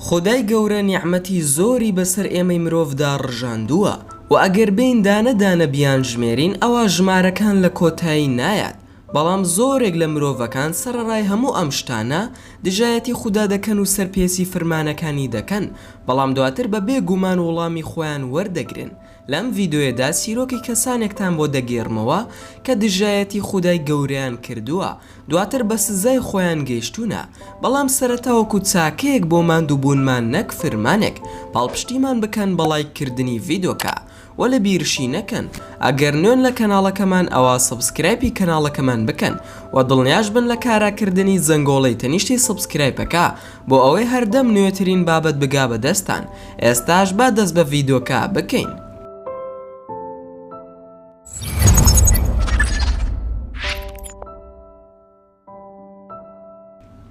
خودای گەورە نیعمەتی زۆری بەسەر ئێمەی مرۆڤدا ڕژاندووە و ئەگەر بێین دانە دانە بیانژمێرین ئەوا ژمارەکان لە کۆتایی نایات بەڵام زۆرێک لە مرۆڤەکان سەرەڕای هەموو ئەم شتانە دژایەتی خودا دەکەن و سەرپێچی فرمانەکانی دەکەن بەڵام دواتر بە بێ گومان وڵامی خۆیان وەردەگرن لەم ڤیدۆیەدا چیرۆکی کەسانێکتان بۆ دەگێڕمەوە کە دژایەتی خودای گەورەیان کردووە دواتر بە سزای خۆیان گەیشتوونە، بەڵام سەرەتا وەکو چاکەیەک بۆ ماندوو بوونمان نەک فرمانێک، پاڵپشتیمان بکەن بە ڵایک کردنی ڤیدۆکە وە لە بیرشی نەکەن ئەگەر نوێن لە کەناڵەکەمان ئەوا سەبسکرایپی کەناڵەکەمان بکەن وە دڵنیاش بن لە کارا کردنی زەنگۆڵەی تەنیشتی سەبسکرایپەکە بۆ ئەوەی هەردەم نوێترین بابەت بگا بە دەستان ئێستاش با دەست بە ڤیدۆکە بکەین.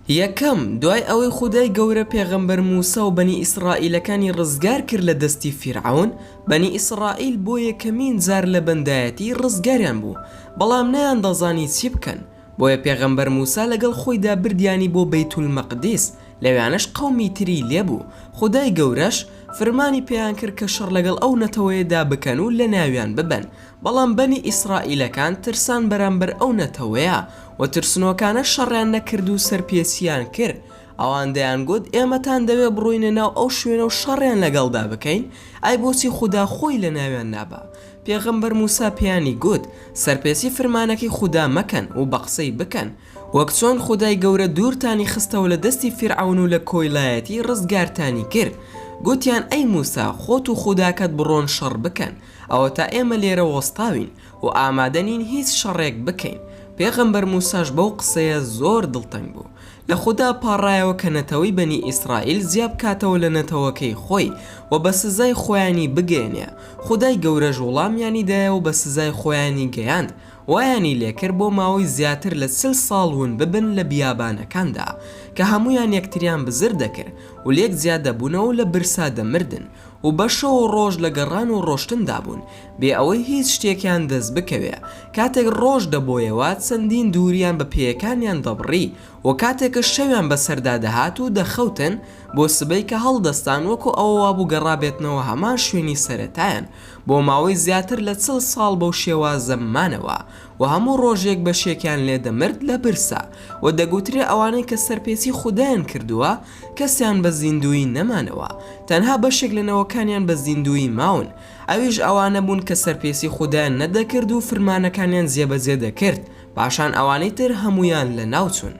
یەکەم دوای ئەوەی خودای گەورە پێغەمبەر موسا و بەنی ئیسرائیلەکانی ڕزگار کرد لە دەستی فیرعون بەنی ئیسرائیل بۆ یەکەمین جار لە بەندایەتی ڕزگاریان بوو بەڵام نەیان دەزانی چی بکەن بۆیە پێغەمبەر موسا لەگەڵ خۆیدا بردیانی بۆ بەیت المقدس لەوێانەش قەومی تری لێبوو خودای گەورەش فرمانی پێیان کرد کە شەڕ لەگەڵ ئەو نەتەوەیەدا بکەن و لەناویان ببەن بەڵام بەنی ئیسرائیلەکان ترسان بەرامبەر ئەو نەتەوەیە و ترسنۆکانە شەڕیان نەکرد و سەرپێچیان کرد ئەوان دەیانگوت، ئێمەتان دەوێت بڕۆینە ناو ئەو شوێنە و شەڕیان لەگەڵدا بکەین، ئەی بۆچی خودا خۆی لەناویان نابا؟ پێغەمبەر موسا پێیانی گوت، سەرپێچی فرمانەکەی خودا مەکەن و بە قسەی بکەن، وەک چۆن خودای گەورە دوورتانی خستەوە لە دەستی فیرعەون و لە کۆیلایەتی ڕزگارتانی کرد، گوتیان، ئەی موسا خۆت و خوداکەت بڕۆن شەڕ بکەن، ئەوەتا ئێمە لێرە وەستاوین، و ئامادە نین هیچ شەڕێک بکەین، پێغەمبەر موساش بەو قسەیە زۆر دڵتەنگ بوو، لە خودا پاڕایەوە کە نەتەوەی بەنی ئیسرائیل جیا بکاتەوە لە نەتەوەکەی خۆی و بە سزای خۆیانی بگەیەنێ، خودای گەورەش وڵامیانی دایەوە بە سزای خۆیانی گەیاند وایانی لێکرد بۆ ماوەی زیاتر لە چل ساڵ ون ببن لە بیابانەکاندا کە هەموویان یەکتریان بزر دەکرد و لێک جیا دەبوونەوە و لە برسا دەمردن. و بە شەو و ڕۆژ لە گەڕان و ڕۆشتندا بوون بێ ئەوەی هیچ شتێکیان دەست بکەوێ، کاتێک ڕۆژ دەبۆیەوە چەندین دووریان بە پێیەکانیان دەبڕی و کاتێکش شەویان بەسەردا دەهات و دەخەوتن بۆ سبەی کە هەڵدەستان وەکو ئەوە وابوو گەڕابێتنەوە هەمان شوێنی سەرەتایان بۆ ماوەی زیاتر لە چل ساڵ بەو شێوازە مانەوە و هەموو ڕۆژێک بەشێکیان لێ دەمرد لە برسا و دەگوترێ ئەوانەی کە سەرپێچی خودایان کردووە کەسیان بە زیندوویی نەمانەوە، تەنها بەشێک لە نەوەکانیان بە زیندوویی ماون، ئەویش ئەوانە بوون کە سەرپێسی خودایان نەدەکرد و فرمانەکانیان جێبەجێ دەکرد، پاشان ئەوانەی تر هەموویان لەناوچوون.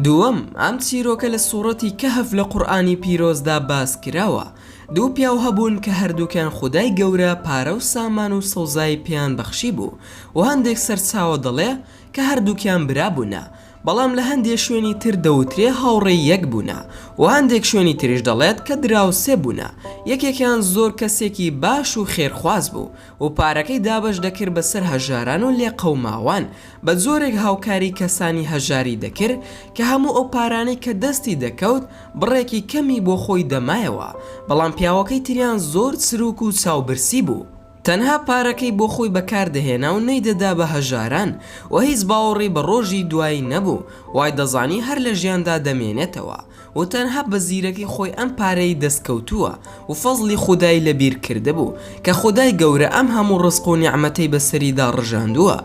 دووەم، ئەم چیرۆکە لە سوڕەتی کەهف لە قورئانی پیرۆزدا باس کراوە، دوو پیاو هەبوون کە هەردووکیان خودای گەورە پارە و سامان و سەوزایی پێیان بەخشیبوو و هەندێک سەرچاوە دەڵێ کە هەردووکیان برا بوونە بەڵام لە هەندێ شوێنی تر دەوترێ هاوڕێی یەک بوونە و هەندێک شوێنی تریش دەڵێت کە دراوسێ بوونە یەکێکیان زۆر کەسێکی باش و خێرخواز بوو و پارەکەی دابەش دەکرد بەسەر هەژاران و لێقەوماوان بە جۆرێک هاوکاری کەسانی هەژاری دەکرد کە هەموو ئەو پارانەی کە دەستی دەکەوت بڕێکی کەمی بۆ خۆی دەمایەوە بەڵام پیاوەکەی تریان زۆر چرووک و چاوبرسی بوو تەنها پارەکەی بۆ خۆی بەکار دەهێنا و نەیدەدا بە هەژاران و هیچ باوەڕی بە ڕۆژی دوایی نەبوو وای دەزانی هەر لە ژیاندا دەمێنێتەوە و تەنها بە زیرەکی خۆی ئەم پارەی دەست کەوتووە و فەزڵی خودای لە بیر کردبوو کە خودای گەورە ئەم هەموو ڕزق و نیعمەتەی بە سەریدا ڕژاندووە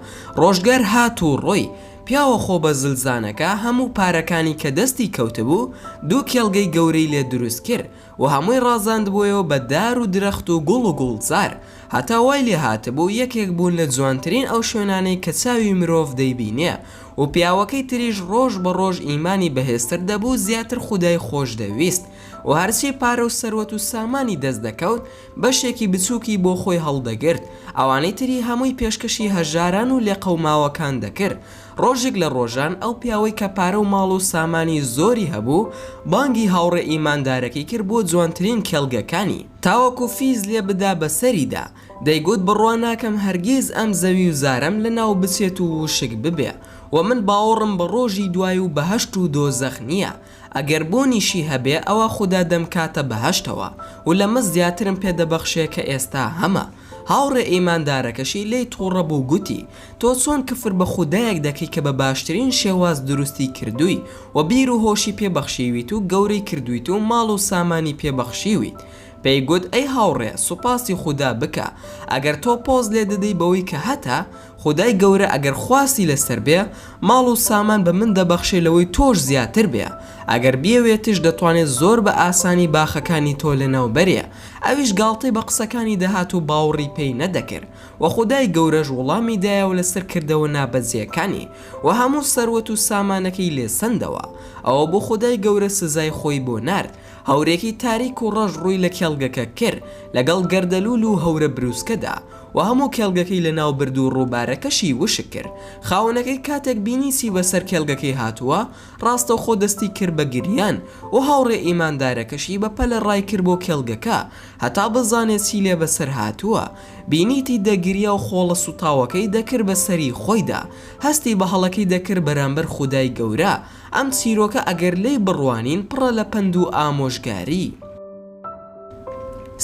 ڕۆژگار هات و ڕۆی پیاوە خۆ بە زلزانەکە هەموو پارەکانی کە دەستی کەوتبوو دوو کێڵگەی گەورەی لێ دروست کرد و هەمووی ڕازاندبوویەوە بە دار و درەخت و گوڵ و گوڵزار هەتا وای لێ هاتبوو یەکێک بوون لە جوانترین ئەو شوێنانەی کە چاوی مرۆڤ دەیبینێ و پیاوەکەی تریش ڕۆژ بە ڕۆژ ئیمانی بەهێزتر دەبوو زیاتر خودای خۆش دەویست و هەرچی پارە و سەروەت و سامانی دەست دەکەوت بەشێکی بچوکی بۆ خۆی هەڵدەگرت ئەوانەی تری هەمووی پێشکەشی هەژاران و لێقەوماوەکان دەکرد ڕۆژیک لە ڕۆژان ئەو پیاوەی کە پارە و ماڵ و سامانی زۆری هەبوو بانگی هاوڕێ ئیماندارەکەی کرد بۆ جوانترین کێڵگەکانی تاوەکو فیز لێ بدا بەسەریدا دەیگوت بڕوا ناکەم هەرگیز ئەم زەوی و زارەم لەناو بچێت و وشک ببێ و من باوەڕم بە ڕۆژی دوای و بەهەشت و دۆزەخ نییە، ئەگەر بوونیشی هەبێ ئەوا خودا دەمکاتە بەهەشتەوە و لەمە زیاترم پێ دەبەخشێ کە ئێستا هەمە. هاوڕێ ئیماندارەکەشی لێی تووڕە بوو گوتی، تۆ چۆن کفر بە خودایەک دەکەی کە بە باشترین شێواز دروستی کردووی و بیر و هۆشی پێ بەخشیویت و گەورەی کردوویت و ماڵ و سامانی پێ بەخشیویت، پێی گوت ئەی هاوڕێ سوپاسی خودا بکە ئەگەر تۆ پۆز لێ دەدەی بەوەی کە هەتە، خودای گەورە ئەگەر خواستی لەسەر بێ ماڵ و سامان بە من دەبەخشێ لەوەی تۆش زیاتر بێ، ئەگەر بیەوێتش دەتوانێ زۆر بە ئاسانی باخەکانی تۆ لەناو بەرێ، ئەویش گاڵتەی بە قسەکانی دەهات و باوڕی پێی نەدەکرد و خودای گەورەش وڵامی دایەوە لەسەر کردەوە نابەجێکانی و هەموو سەروەت و سامانەکەی لێ سەندەوە، ئەوە بوو خودای گەورە سزای خۆی بۆ نارد. هەورێکی تاریک و ڕەش ڕووی لە کێڵگەکە کر لەگەڵ گەردەلوول و هەورە برووسکەدا و هەموو کێڵگەکەی لەناو برد و ڕووبارەکەشی وشک کرد، خاوەنەکەی کاتێک بینی چی بەسەر کێڵگەکەی هاتووە، ڕاستەوخۆ دەستی کرد بە گریان و هاوڕێ ئیماندارەکەشی بە پەلە ڕای کرد بۆ کێڵگەکە هەتا بزانێ چی لێ بەسەر هاتووە، بینیتی دەگریا و خۆڵە سووتاوەکەی دەکرد بە سەری خۆیدا، هەستی بە هەڵەکەی دەکرد بەرامبەر خودای گەورە، ئەم چیرۆکە ئەگەر لێی بڕوانین پڕە لە پەند و ئامۆژگاری.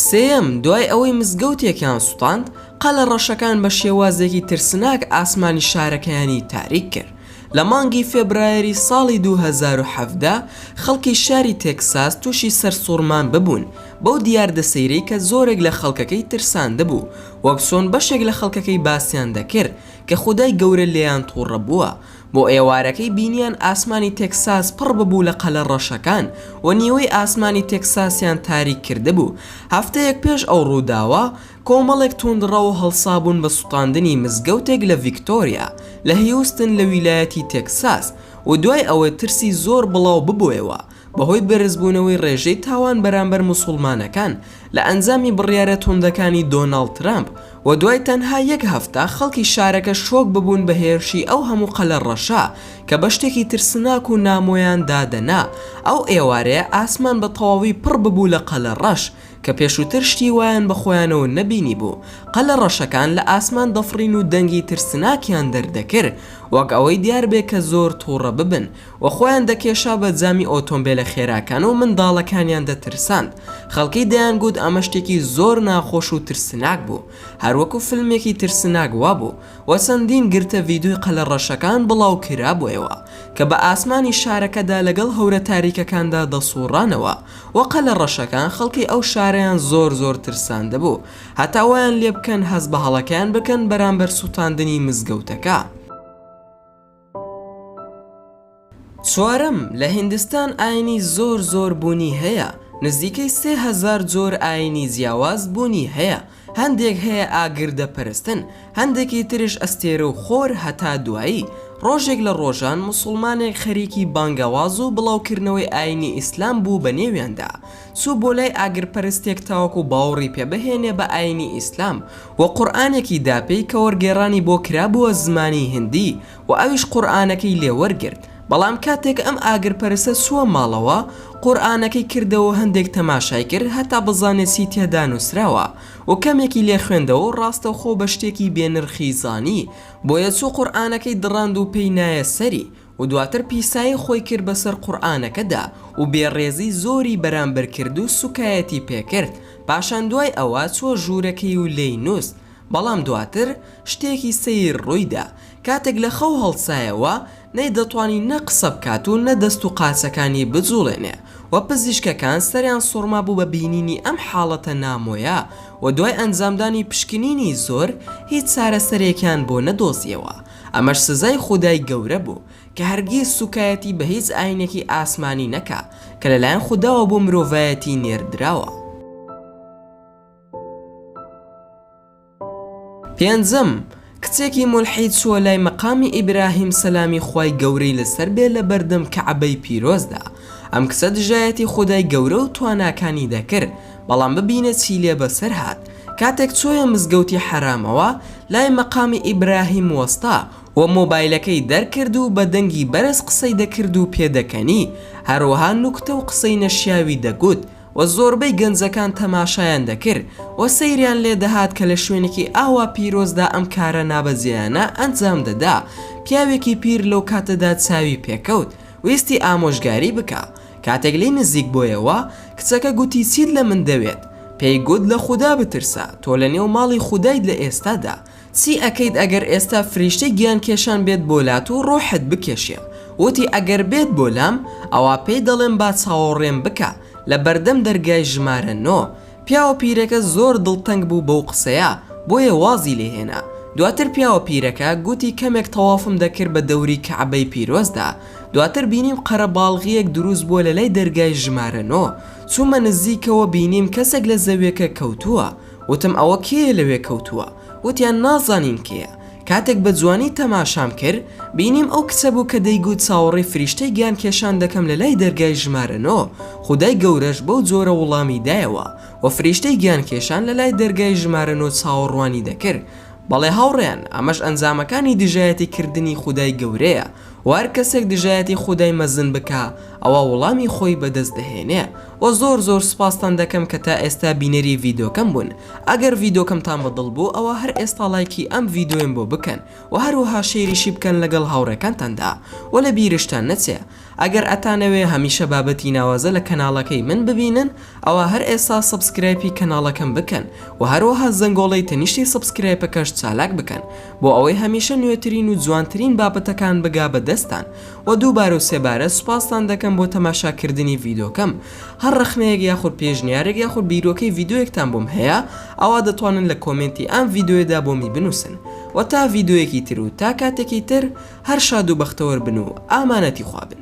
سێیەم، دوای ئەوەی مزگەوتێکیان سوتاند، قەلە ڕەشەکان بە شێوازێکی ترسناک ئاسمانی شارەکەیانی تاریک کرد. لە مانگی فێبرایەری ساڵی دوو هەزار و حەڤدە، خەڵکی شاری تێکساس تووشی سەرسوڕمان ببوون بەو دیاردە سەیرەی کە زۆرێک لە خەڵکەکەی ترساندبوو، وەک چۆن بەشێک لە خەڵکەکەی باسیان دەکرد کە خودای گەورە لێیان توڕە بووە. بۆ ئێوارەکەی بینیان ئاسمانی تێکساس پڕ ببوو لە قەلە ڕەشەکان و نیوەی ئاسمانی تێکساسیان تاریک کردبوو. هەفتەیەک پێش ئەو ڕووداوە، کۆمەڵێک تووندڕەو هەڵسابوون بە سوتاندنی مزگەوتێک لە ڤیکتۆریا لە هیوستن لە ویلایەتی تێکساس و دوای ئەوەی ترسی زۆر بڵاو ببۆیەوە، بەهۆی بەرزبوونەوەی ڕێژەی تاوان بەرامبەر موسوڵمانەکان لە ئەنجامی بڕیارە توندەکانی دۆناڵد ترەمپ و دوای تەنها یەک هەفتە خەڵکی شارەکە شۆک ببوون بە هێرشی ئەو هەموو قەلە ڕەشە کە بە شتێکی ترسناک و نامۆیان دادەنا ئەو ئێوارەیە ئاسمان بە تەواوی پڕ ببوو لە قەلە ڕەش کە پێشووتر شتی وایان بە خۆیانەوە نەبینیبوو قەلە ڕەشەکان لە ئاسمان دەفڕین و دەنگی ترسناکیان دەردەکر وەک ئەوەی دیار بێ کە زۆر توڕە ببن و خۆیان دەکێشا بە جامی ئۆتۆمبێلە خێراکان و منداڵەکانیان دەترساند، خەڵکی دەیانگوت ئەمە شتێکی زۆر ناخۆش و ترسناک بوو، هەر وەکو فیلمێکی ترسناک وابوو، و چەندین گرتە ڤیدۆی قەلە ڕەشەکان بڵاوکرابوویەوە کە بە ئاسمانی شارەکەدا لەگەڵ هەورە تاریکەکاندا دەسوڕانەوە و قەلە ڕەشەکان خەڵکی ئەو شارەیان زۆر زۆر ترساندبوو هەتا وایان لێبکەن هەست بە هەڵەکەیان بکەن بەرامبەر سوتاندنی مزگەوتەکە. چوارەم، لە هیندستان ئاینی زۆر زۆر بوونی هەیە، نزیکەی سێ هەزار جۆر ئاینی جیاواز بوونی هەیە، هەندێک هەیە ئاگر دەپەرستن، هەندێکی ترش ئەستێرە و خۆر هەتا دوایی، ڕۆژێک لە ڕۆژان موسوڵمانێک خەریکی بانگەواز و بڵاوکردنەوەی ئاینی ئیسلام بوو بەنێویاندا، چوو بۆ لای ئاگرپەرستێک تاوەکو باوڕی پێ بهێنێ بە ئاینی ئیسلام و قورئانێکی دا پێی کە وەرگێڕانی بۆ کرابووە زمانی هندی و ئەویش قورئانەکەی لێ وەرگرت بەڵام کاتێک ئەم ئاگرپەرستە چووە ماڵەوە قورئانەکەی کردەوە هەندێک تەماشای کرد هەتا بزانێ چی تێدا نووسراوە و کەمێکی لێ خوێندەوە و ڕاستەوخۆ بە شتێکی بێ نرخی زانی بۆیە چوو قورئانەکەی دڕاند و پێی نایە سەری و دواتر پیسایی خۆی کرد بەسەر قورئانەکەدا و بێ ڕێزی زۆری بەرامبەر کرد و سوکایەتی پێکرد پاشان دوای ئەوە چووە ژوورەکەی و لێی نوست بەڵام دواتر شتێکی سەیر ڕوویدا کاتێک لە خەو هەڵسایەوە نەیدەتوانی نە قسە بکات و نە دەست و قاچەکانی بجوڵێنێ و پزیشکەکان سەریان سوڕمابوو بە بینینی ئەم حاڵەتە نامۆیە و دوای ئەنجامدانی پشکنینی زۆر هیچ چارەسەرێکیان بۆ نەدۆزیەوە ئەمەش سزای خودای گەورە بوو کە هەرگیز سوکایەتی بە هیچ ئاینێکی ئاسمانی نەکا کە لەلایەن خوداوە بۆ مرۆڤایەتی نێردراوە. پێنجەم، کچێکی مولحید چووە لای مەقامی ئیبراهیم سەلامی خوای گەورەی لەسەر بێ لەبەردەم کەعبەی پیرۆزدا، ئەم کچە دژایەتی خودای گەورە و تواناکانی دەکرد، بەڵام ببینە چی لێ بەسەر هات، کاتێک چۆیە مزگەوتی حەرامەوە لای مەقامی ئیبراهیم وەستا و مۆبایلەکەی دەرکرد و بە دەنگی بەرز قسەی دەکرد و پێدەکەنی، هەروەها نوکتە و قسەی نەشیاوی دەگوت و زۆربەی گەنجەکان تەماشایان دەکرد و سەیریان لێ دەهات کە لە شوێنێکی ئاوا پیرۆزدا ئەم کارە نابەجێیانە ئەنجام دەدا، پیاوێکی پیر لەو کاتەدا چاوی پێکەوت ویستی ئامۆژگاری بکا کاتێک لێی نزیک بۆیەوە کچەکە گوتی چیت لە من دەوێت پێی گوت لە خودا بترسە تۆ لە نێو ماڵی خودایت لە ئێستادا چی ئەکەیت ئەگەر ئێستا فریشتەی گیان کێشان بێت بۆ لات و ڕۆحت بکێشێ وتی ئەگەر بێت بۆ لام ئەوا پێی دەڵێم با چاوەڕێم بکا لە بەردەم دەرگای ژمارە نۆ پیاوە پیرەکە زۆر دڵتەنگ بوو بەو قسەیە بۆیە وازی لێ هێنا، دواتر پیاوە پیرەکە گوتی کەمێک تەوافم دەکرد بە دەوری کەعبەی پیرۆزدا دواتر بینیم قەرەباڵغیەک دروست بووە لە لای دەرگای ژمارە نۆ چوومە نزیکەوە بینیم کەسێک لە زەویەکە کەوتووە وتم ئەوە کێیە لەوێ کەوتووە وتیان نازانین کێیە کاتێک بە جوانی تەماشام کرد بینیم ئەو کچە بوو کە دەیگوت چاوەڕێی فریشتەی گیان کێشان دەکەم لە لای دەرگای ژمارە نۆ، خودای گەورەش بەو جۆرە وڵامی دایەوە و فریشتەی گیان کێشان لە لای دەرگای ژمارە نۆ چاوەڕوانی دەکرد. بەڵێ هاوڕێیان ئەمەش ئەنجامەکانی دژایەتی کردنی خودای گەورەیە و هەر کەسێک دژایەتی خودای مەزن بکا، ئەوا وڵامی خۆی بەدەست دەهێنێ وە زۆر زۆر سوپاستان دەکەم کە تا ئێستا بینەری ڤیدۆکەم بوون ئەگەر ڤیدۆکەمتان بە دڵ بوو ئەوا هەر ئێستا ڵایکی ئەم ڤیدۆیەم بۆ بکەن وە هەروەها شەیریشی بکەن لەگەڵ هاوڕێکانتاندا وە لە بیرشتان نەچێ ئەگەر ئەتانەوێ هەمیشە بابەتی ناوازە لە کەناڵەکەی من ببینن ئەوا هەر ئێستا سەبسکرایپی کەناڵەکەم بکەن وە هەروەها زەنگۆڵەی تەنیشتی سەبسکرایپەکەش چالاک بکەن بۆ ئەوەی هەمیشە نوێترین و جوانترین بابەتەکان بگا بە دەستتان وە دووبارەو سێبارە سوپاستان دەکەم بۆ تەماشا کردنی ڤیدۆکەم هەر ڕەخنەیەک یاخود پێشنیارێک یاخود بیرۆکەی ڤیدۆیەکتان بۆم هەیە ئەوا دەتوانن لە کۆمێنتی ئەم ڤیدۆیەدا بۆمی بنوسن وە تا ڤیدۆیەکی تر و تا کاتێکی تر هەر شاد و بەختەوەر بن و ئامانەتی خوا بن.